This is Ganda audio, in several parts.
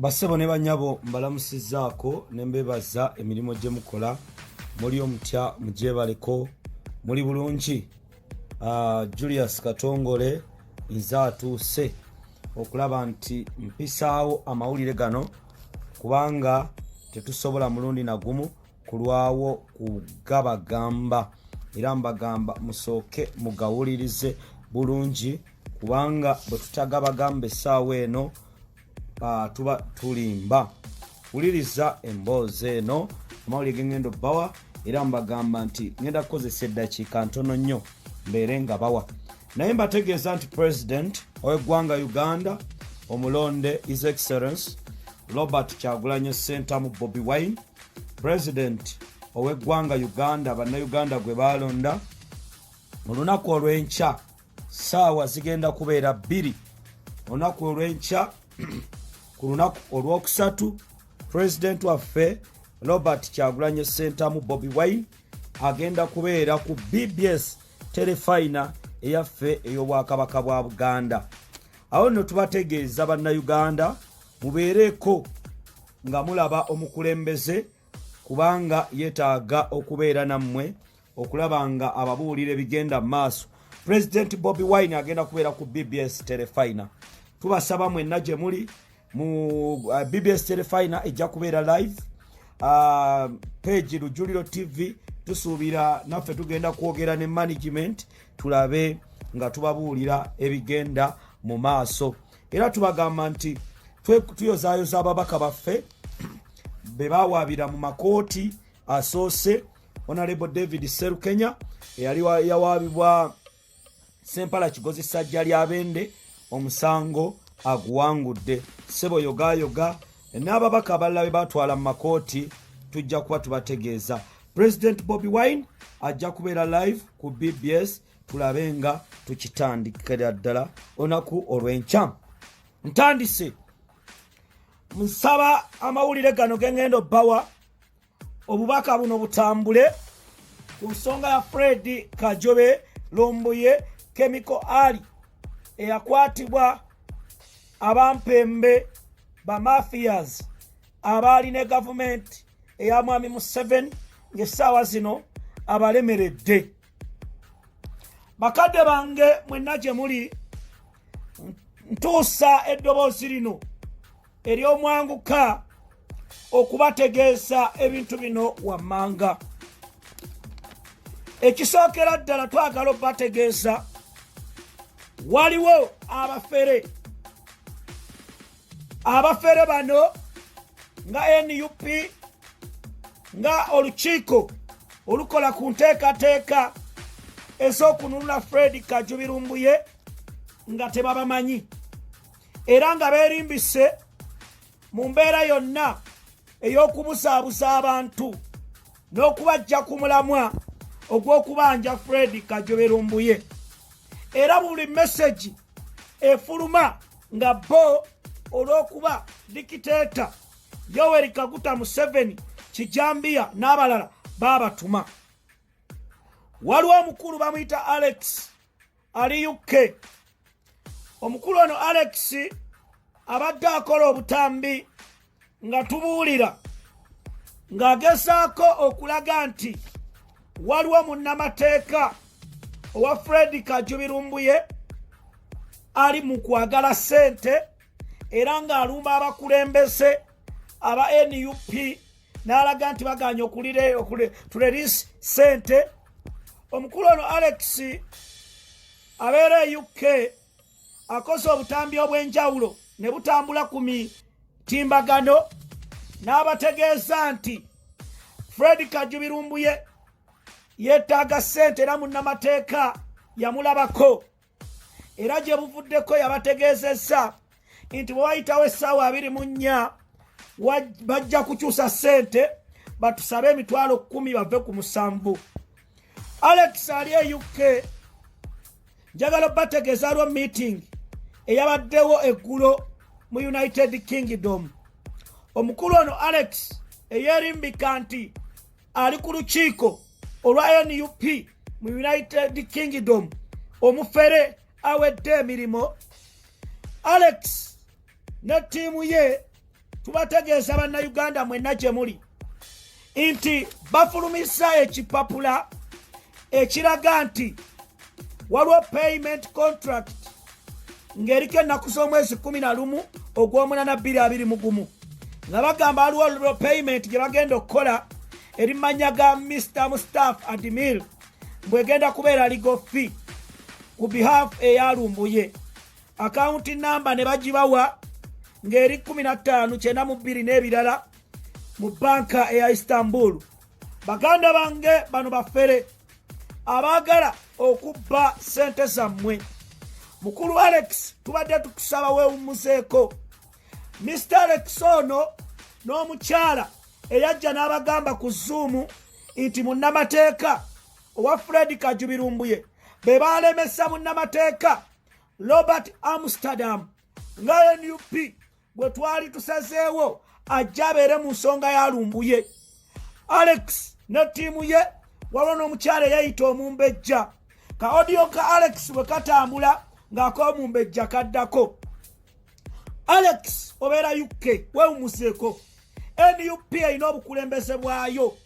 basebo ne banyabo mbalamusizaako ne mbebaza emirimu gye mukola muli omutya mugyebaleko muli bulungi uh, Julius Katongole nze atuuse okulaba nti mpisaawo amawulire gano kubanga tetusobola mulundi nagumu kulwawo kugabagamba era mbagamba musooke mugawulirize bulungi kubanga bwe tutagabagamba essaawa eno ah, tuba tulimba wuliriza emboozi eno amawulire gengenda obawa era mbagamba nti ngenda kukozesa eddakiika ntono nnyo mbeere nga bawa naye mbategeeza nti president ow'eggwanga uganda omulonde his excellence robert kyagulanyo sentamu bobi wine president ow'eggwanga uganda bannayuganda gwe baalonda mu lunaku olw'enkya saawa zigenda kubeera bbiri olunaku olwenkya ku lunaku olwokusatu pulezidenti waffe robert kyagulanye sentamu bobi wine agenda kubeera ku bbs telefina eyaffe ey'obwakabaka bwa buganda awo nno tubategeeza bannayuganda mubeereeko nga mulaba omukulembeze kubanga yetaaga okubeera nammwe okulaba nga ababuulira ebigenda mu maaso pulezidenti bobi wine agenda kubeera ku bbs telefina tubasaba mwenna gye muli mu uh, bbs telefina ejja kubeera live uh, pegi lujuliro tv tusuubira naffe tugenda kwogera ne management tulabe nga tubabuulira ebigenda mu maaso era tubagamba nti tuyozayoza ababaka baffe be bawaabira mu makooti asoose honorable david serukenya eyali yawaabibwa sempala kigozi sajja lya bende omusango aguwangudde sebo yogayoga n'ababaka abalala be batwala mu makooti tujja kuba tubategeeza president bobi wine ajja kubeera live ku bbs tulabe nga tukitandikira ddala onaku olw'enkya ntandise nsaba amawulire gano gengendo bawa obubaka buno butambule ku nsonga ya fred kajobe lombuye kemiko ali eyakwatibwa abampembe bamafias abaali ne gavumenti eya mwami museveni ng'essaawa zino abalemeredde bakadde bange mwenna gye muli ntuusa eddoboozi lino ery'omwanguka okubategeeza ebintu bino wammanga ekisookera ddala twagala okubategeeza waliwo abafere abafere bano nga nup nga olukiiko olukola ku nteekateeka ez'okununula fred kajubirumbuye nga tebabamanyi era nga beerimbise mu mbeera yonna ey'okubuzaabuza abantu n'okubajja ku mulamwa ogw'okubanja fred kajoberumbuye era buli mesegi efuluma nga bo olw'okuba dikiteeta yoweri kaguta museveni kijambiya n'abalala baabatuma waliwo omukulu bamuyita alex ali uk omukulu ono alex abadde akola obutambi nga tubuulira ng'agezaako okulaga nti waliwo munnamateeka owa fredi kajubirumbuye ali mu kwagala sente era ng'alumba abakulembeze aba nup n'alaga nti bagaanye okulituleriisi ssente omukulu ono alex abeera e uk akoze obutambi obw'enjawulo ne butambula ku mitimbagano n'abategeeza nti fred kajubirumbuye yeetaaga ssente era munnamateeka yamulabako era gye buvuddeko yabategeezezza nti bwe wayitawo essaawa abiri mu nnya bajja kukyusa ssente batusabe emitwalo kkumi bave ku musanvu alex ali e uk njagala obategeeza lwo meeting eyabaddewo eggulo mu united kingdom omukulu ono alex eyerimbika nti ali ku lukiiko olwa nup mu united kingdom omufere awedde emirimu alex ne ttiimu ye tubategeeza bannayuganda mwenna gye muli nti bafulumisa ekipapula ekiraga nti waliwo payment contract ng'eriko ennaku z'omwezi kumi na lumu ogw'omunana bbiri abiri mu gumu nga bagamba aliwo olwo payment gye bagenda okukola eri manya ga mr mustaf admil mbwegenda kubeera ligo fi ku behalf eyalumbuye akawunti namba ne bagibawa ng'eri 15 kyenda mu bbiri n'ebirala mu banka eya istanbul baganda bange bano bafere abaagala okubba ssente zammwe mukulu alex tubadde tukusaba wewummuzeeko mr alex ono n'omukyala eyajja n'abagamba ku zuumu nti munnamateeka owa fred kajubirumbuye be baalemesa munnamateeka robert amsterdam nga nup gwe twali tusazeewo ajja abeere mu nsonga ya lumbuye alex ne ttiimu ye waliwo n'omukyala eyayita omumbejja ka odiyo ka alex bwe katambula ng'ak'omumbejja kaddako alex obeera uk wewumuseeko nup erina obukulembeze bwayo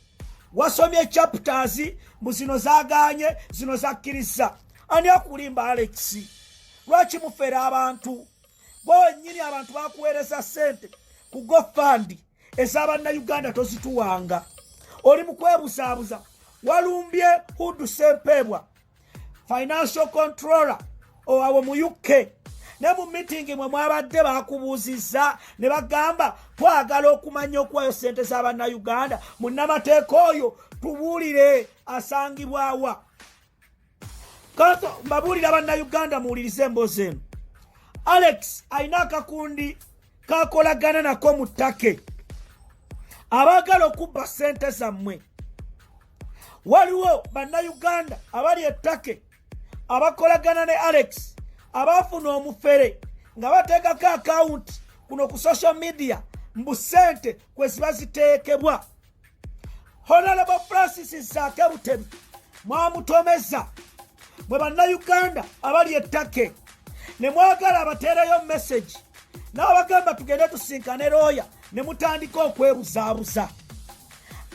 wasomye chapters mbu zino zaganye zino zakkiriza ani akulimba alexi lwaki mufera abantu gwe wenyini abantu bakuweereza sente ku gofandi ezabannayuganda tozituwanga oli mukwebuzaabuza walumbye hudu sempeebwa financial controller owawo mu uk ne mu mitingi mwe mwabadde bakubuuzizza ne bagamba twagala okumanya okuwayo sente z'abannayuganda munnamateeka oyo tubuulire asangibwawa Kato mbabuulira bannayuganda muwulirize emboozi eno. Alex alina akakundi kakolagana nako mu ttake abaagala okubba ssente zammwe. Waliwo bannayuganda abali ettake abakolagana ne Alex abaafuna omufere nga bateekako akawunti kuno ku social media mbu ssente kwe ziba ziteekebwa. honalabo francis zaake butebi mwamutomeza mwe bannayuganda abali ettake ne mwagala abateereyo mesagi n'abagamba tugende tusinkane looya ne mutandika okwebuzaabuza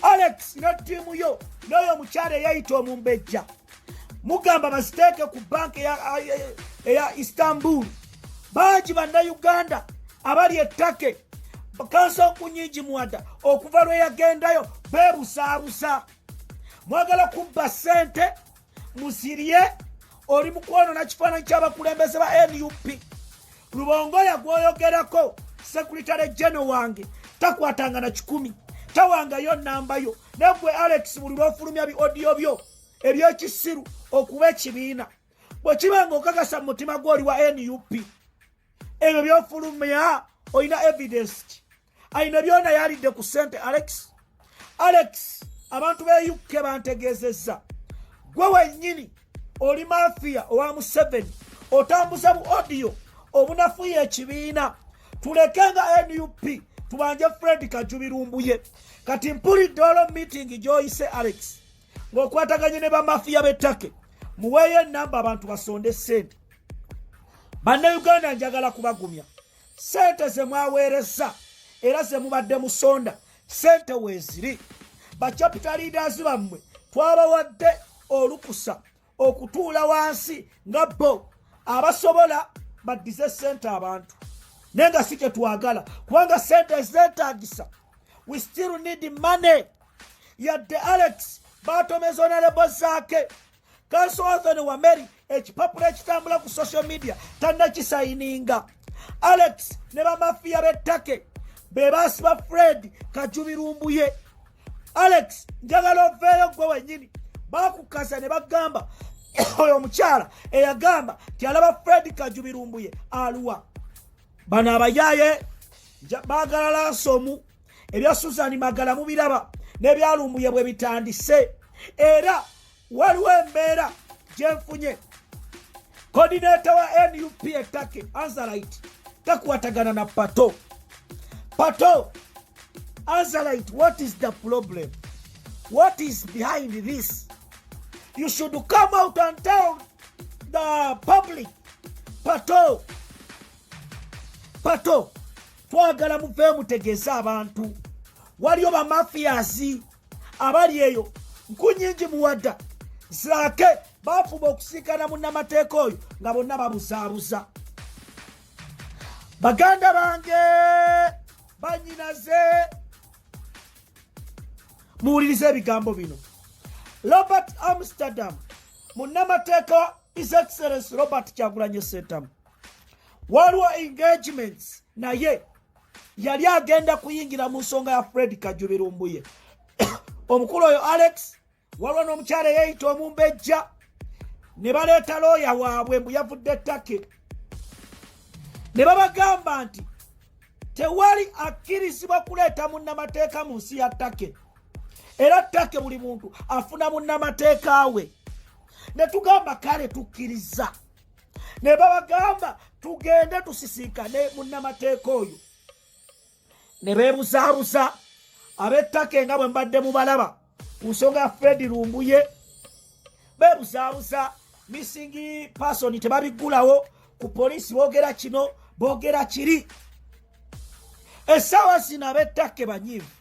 alex ne ttiimu yo n'oyo omukyala eyayita omumbejja mugamba baziteeke ku banka eya istanbul bangi bannayuganda abali ettake kansa okunyingi mwada okuva lwe yagendayo beebusaabusa mwagala kubba ssente musirye oli mu kwonona kifaananyi ky'abakulembeze ba nup lubongoya gwoyogerako sekuritale jeno wange takwatanga na kikumi tawangayo nambayo negwe alex buli lwofulumya bi odiyo byo ebyekisiru okuba ekibiina bwekiba nga okakasa mu mutima gwoli wa nup ebyo byofulumya olina evidence ki alina byona yalidde ku sente alex alex abantu be uk bantegezeza gwe wenyini oli mafiya owa museveni otambuza bu odiyo obunafuya ekibiina tuleke nga nup tubanje fred kajubirumbuye kati mpulidde olwo miitingi gyoyise alex ng'okwataganye ne bamafiya b'ettake muweeyo enamba abantu basonde ssente bannayuganda njagala kubagumya ssente ze mwaweereza era ze mubadde musonda sente weeziri bacapita leaders bammwe twabawadde olukusa okutuula wansi nga bo abasobola baddize sente abantu naye nga si kye twagala kubanga sente ezeetaagisa we still need money yadde alex batomeza onalebo zaake kanso othon wameri ekipapula ekitambula ku social media tanakisayininga alex ne bamafiya bettake be basiba fred kajubirumbuye alex njagala oveeyo gwe wenyini bakukasa ne bagamba oyo omukyala eyagamba nti alaba fred kajubirumbuye aluwa bano abayaye bagala lansomu ebya suzani magala mubiraba nebyalumbuye bwe bitandise era waliwo embeera gyenfunye kodineta wa nup etake anzalite takwatagana na pato pato anzalite what is the problem what is behind this you should come out and tell the public pato pato twagala muve mutegeeze abantu waliyo bamafiyazi abali eyo nkunyingi muwadda zaake bafuba okusinkana munnamateeka oyo nga bonna babuzaabuza baganda bange banyinaze muwuliriza ebigambo bino robert amsterdam munnamateeka His Excellency Robert Kyagulanyi Ssentamu waliwo engagements naye yali agenda kuyingira mu nsonga ya Fred Kajubi Lumbuye omukulu oyo Alex waliwo n'omukyala eyeyita omumbejja ne baleeta looya waabwe mbu yavudde ttake ne babagamba nti tewali akkirizibwa kuleeta munnamateeka mu nsi ya ttake era take buli muntu afuna munnamateeka we ne tugamba kale tukkiriza ne babagamba tugende tusisinkane munnamateeka oyo ne beebuzaabuza ab'ettaka nga bwe mbadde mubalaba ku nsonga ya fredi lumbuye beebuzaabuza missingi pasoni tebabiggulawo ku poliisi boogera kino boogera kiri essaawa zino ab'ettaka banyiivu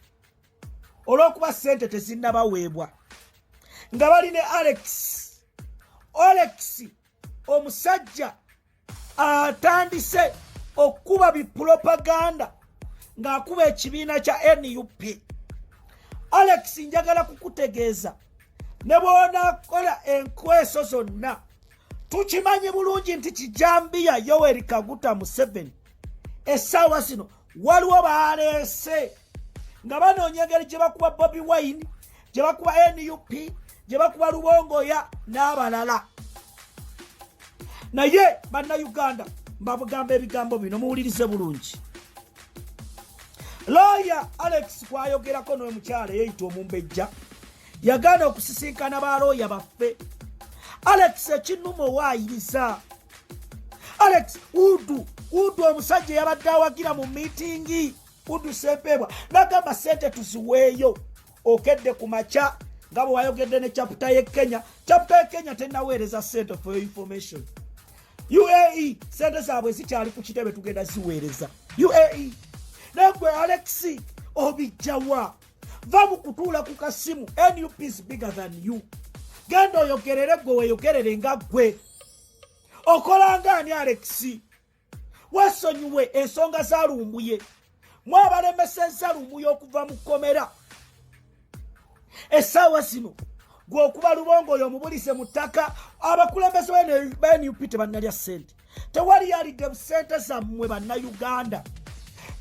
olw'okuba sente tezinnabaweebwa nga bali ne alex alex omusajja atandise okukuba bipulopaganda ng'akuba ekibiina kya nup alex njagala kukutegeeza ne bwonakola enkweso zonna tukimanyi bulungi nti kijambiya yoweri kaguta museveni essaawa zino waliwo baleese nga banoonya engeri gye bakuba bobi wine gye bakuba nup gye bakuba lubongoya n'abalala naye bannayuganda mbabugamba ebigambo bino muwulirize bulungi looya alex kwayogerako noyo mukyala eyeyita omumbejja yagaana okusisinkana ba looya baffe alex ekinuma owaayiriza alex udu udu omusajja eyabadde awagira mu miitingi kuddusa empeebwa nagamba sente tuziweeyo okedde ku makya nga bwe wayogedde ne caputa ye kenya caputa ye kenya tenaweereza sente for your information uae sente zaabwe zikyali ku kitebe tugenda ziweereza uae naye gwe alex obijjawa va mu kutuula ku kasimu nup is bigger than you genda oyogerere gwe weyogerere nga gwe okolanga ani alexi wesonyiwe ensonga za lumbuye mwabalemeseza lumbuye okuva mu kkomera essaawa zino gweokuba lubongo oyo omubulize mu ttaka abakulembeze benup tebannalya ssente tewali yalidde busente zammwe bannayuganda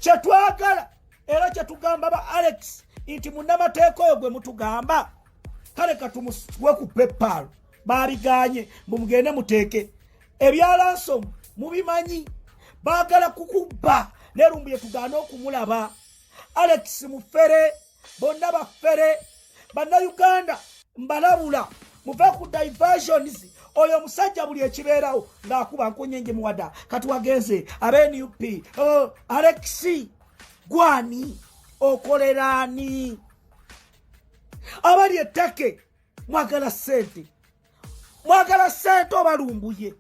kyetwagala era kyetugamba ba alex nti munamateeka oyo gwe mutugamba kale katumuswe ku pepaalo baabiganye mbu mugende muteeke ebyalansomu mubimanyi baagala kukubba nerumbuye tugaane okumulaba alex mufere bonna bafere bannayuganda mbalabula muve ku diversions oyo omusajja buli ekibeerawo ng'akuba nkunyenje muwada kati wagenze aba nup oh, alexi gwani okoleraani abali ettake mwagala sente mwagala sente obalumbuye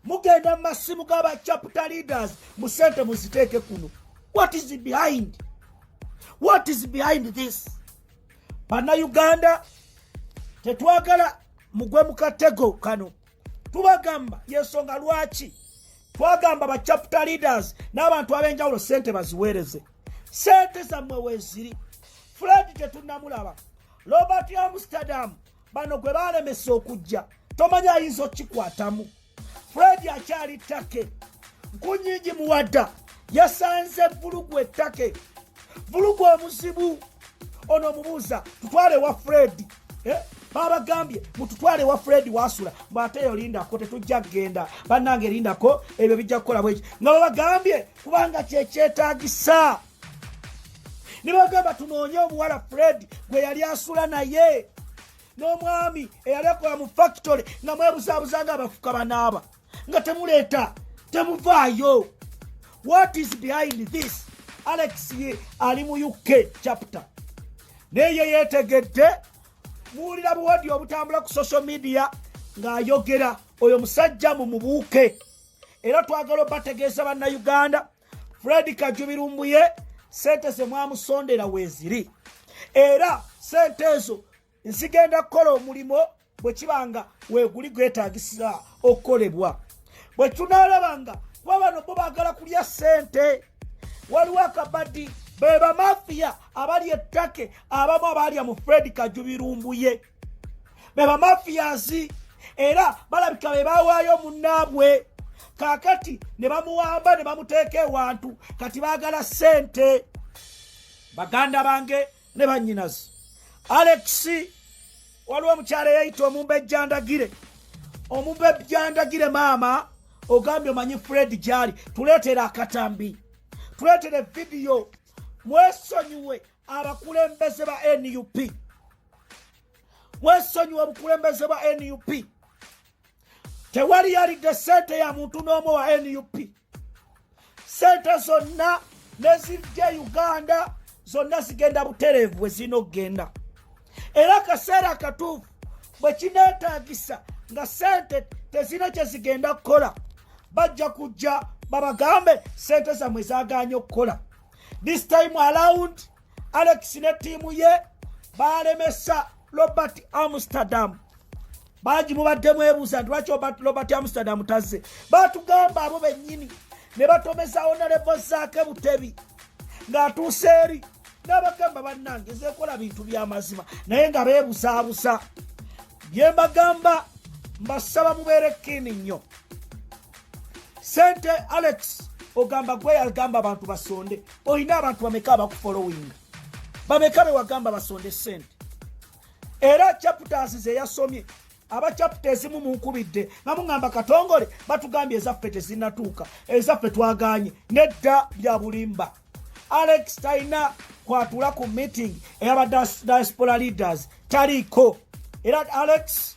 mugenda mu masimu gaba chapter leaders mu sente muziteeke kuno what is behind what is behind this banna uganda tetwagala mugwe mu katego kano tubagamba yensonga lwaki twagamba ba chapter leaders n'abantu ab'enjawulo sente baziweereze sente zammwe weeziri fuladi tetunnamulaba robert amsterdam bano gwe baalemesa okujja tomanyi ayinza okukikwatamu fred akyali take nkunyingi muwadda yasanze vulugu ettake vulugu omuzibu ono omubuuza tutwale wa fred eh? babagambye mututwale wa fred wasula mbu ate eyo lindako tetujja kugenda bannange lindako ebyo bijja kukola bweki nga babagambye kubanga kyekyetagisa ne bagamba tunoonye omuwala fred gwe yali asula naye n'omwami eyali akola mu fakitole nga mwebuzabuza nga abafuka banaaba nga temuleeta temuvaayo what is behind this alex ye ali mu uk chapter naye ye yeetegedde muwulira buwadi obutambula ku social media ng'ayogera oyo musajja mu mubuuke era twagala obategeeza bannayuganda fred kajubi lumbuye sente zemwamusondera weziri era sente ezo nzigenda kukola omulimu bwe kiba nga weguli gwetagisa okukolebwa bwe tunalaba nga kuba bano bo bagala kulya sente waliwo akabadi bebamafiya abali ettake abamu abaalya mu fred kajubirumbuye beba mafiyazi era balabika be bawaayo munnaabwe kakati ne bamuwamba ne bamuteeka ewantu kati baagala sente baganda bange ne bannyinazi alex waliwo omukyala eyayita omumba ejjandagire omumba ejjandagire maama ogambye omanyi fred gyali tuleetera akatambi tuleetere vidiyo mwesonyiwe abakulembeze ba nup mwesonyiwa obukulembeze bwa nup tewali yalidde sente ya muntu n'omu wa nup sente zonna nezijja e uganda zonna zigenda butereevu bwe zirina okugenda era akaseera akatuufu bwe kineetaagisa nga sente tezirina kye zigenda kukola bajja kujja babagambe sente zammwe zaganye okukola this time around alex ne tiimu ye baalemesa robert amsterdam bangi mubaddemu ebuuza nti lwaki robert amsterdam tazze batugamba abo bennyini ne batomezawo nalebo zaake butebi ng'atuuse eri n'abagamba bannange zekola bintu by'amazima naye nga beebuzaabuza bye mbagamba mbasaba mubeere kiini nnyo sente alex ogamba gwe yagamba abantu basonde olina abantu bameka abakufolowinga bameka bewagamba basonde sente era chapters zeyasomye aba chapta ezimu munkubidde nga muŋamba katongole batugambye ezaffe tezinatuuka ezaffe twaganye nedda bya bulimba alex talina kwatula ku meeting eyaba diaspora leaders taliiko era alex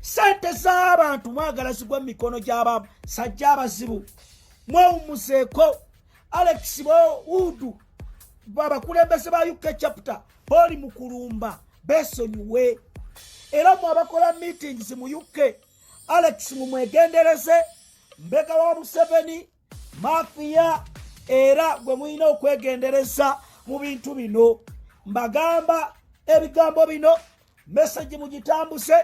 sente z'abantu mwagala zigwa mu mikono gy'aba sajja abazibu mwewumuzeeko alex boudu abakulembeze ba uk chapter oli mu kulumba besonyiwe era mu abakola meetings mu uk alex mumwegendereze mbega wa museveni mafiya era gwe mulina okwegendereza mu bintu bino mbagamba ebigambo bino mesagi mugitambuse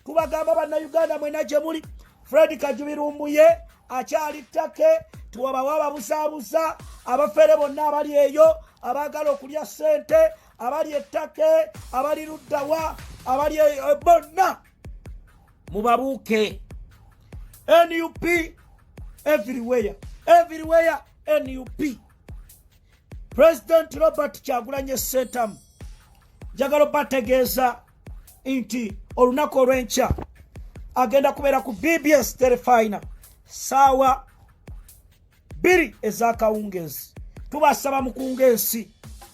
tubagamba bannayuganda mwena gye muli fred kajubirumbuye akyali ttake tiwabawo ababusaabusa abafere bonna abali eyo abaagala okulya ssente abali ettake abali luddawa abali e, e, bonna mubabuuke nup everywhere everywhere nup president robert kyagulanye sentamu njagala obategeeza nti olunaku olw'enkya agenda kubeera ku bbs terefina saawa bbiri ez'akawungeezi tubasaba mukunga ensi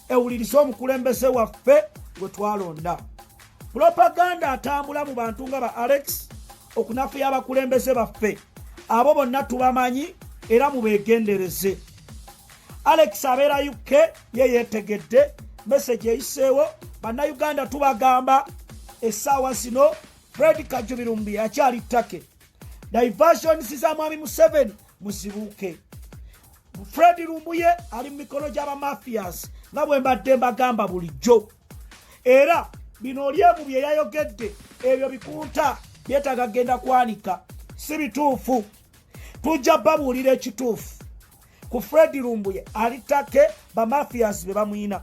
ewulirize omukulembeze waffe gwe twalonda pulopaganda atambula mu bantu nga ba alex okunafuya abakulembeze baffe abo bonna tubamanyi era mubeegendereze alex abeera uk ye yeetegedde mesegi eyiseewo bannayuganda tubagamba essaawa zino fred kajubirumbi akyali take diversions za mwami museveni muzibuuke fred lumbuye ali mu mikono gy'abamafias nga bwe mbadde mbagamba bulijjo era bino olyemu bye yayogedde ebyo bikunta byetaaga kugenda kwanika si bituufu tujja babuulira ekituufu ku fred lumbuye ali take bamafias be bamwina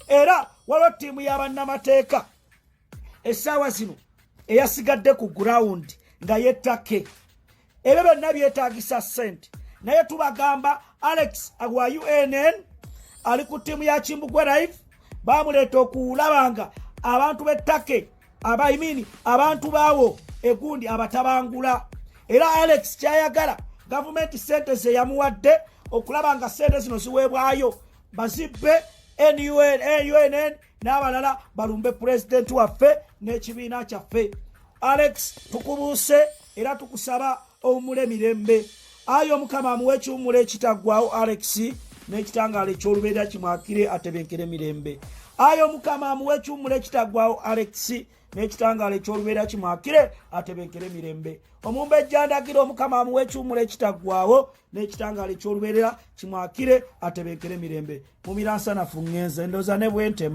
era waliwo ttiimu y'abannamateeka essaawa zino eyasigadde ku gurawundi nga yettake ebyo byonna byetagisa sente naye tubagamba alex wa unn ali ku ttiimu ya kimbugwe live bamuleeta okulaba nga abantu b'ettake abaimini abantu baawo egundi abatabangula era alex kyayagala gavumenti sente zeyamuwadde okulaba nga sente zino ziweebwayo bazibbe nunn n'abalala balumbe pulezidenti waffe n'ekibiina kyaffe alex tukubuuse era tukusaba owumule mirembe ayi omukama amuwa ekiwumula ekitaggwawo alex n'ekitangaala eky'olubeera kimwakire atebenkere mirembe ayi omukama amuwa ekiwumula ekitaggwawo alex n'ekitangaala eky'olubeera kimwakire atebenkere mirembe omumba ejjandagira omukama amuwa ekiwumula ekitaggwawo n'ekitangaala eky'olubeerera kimwakire atebenkere mirembe mu miransanafu ngenze ndoza ne bwentema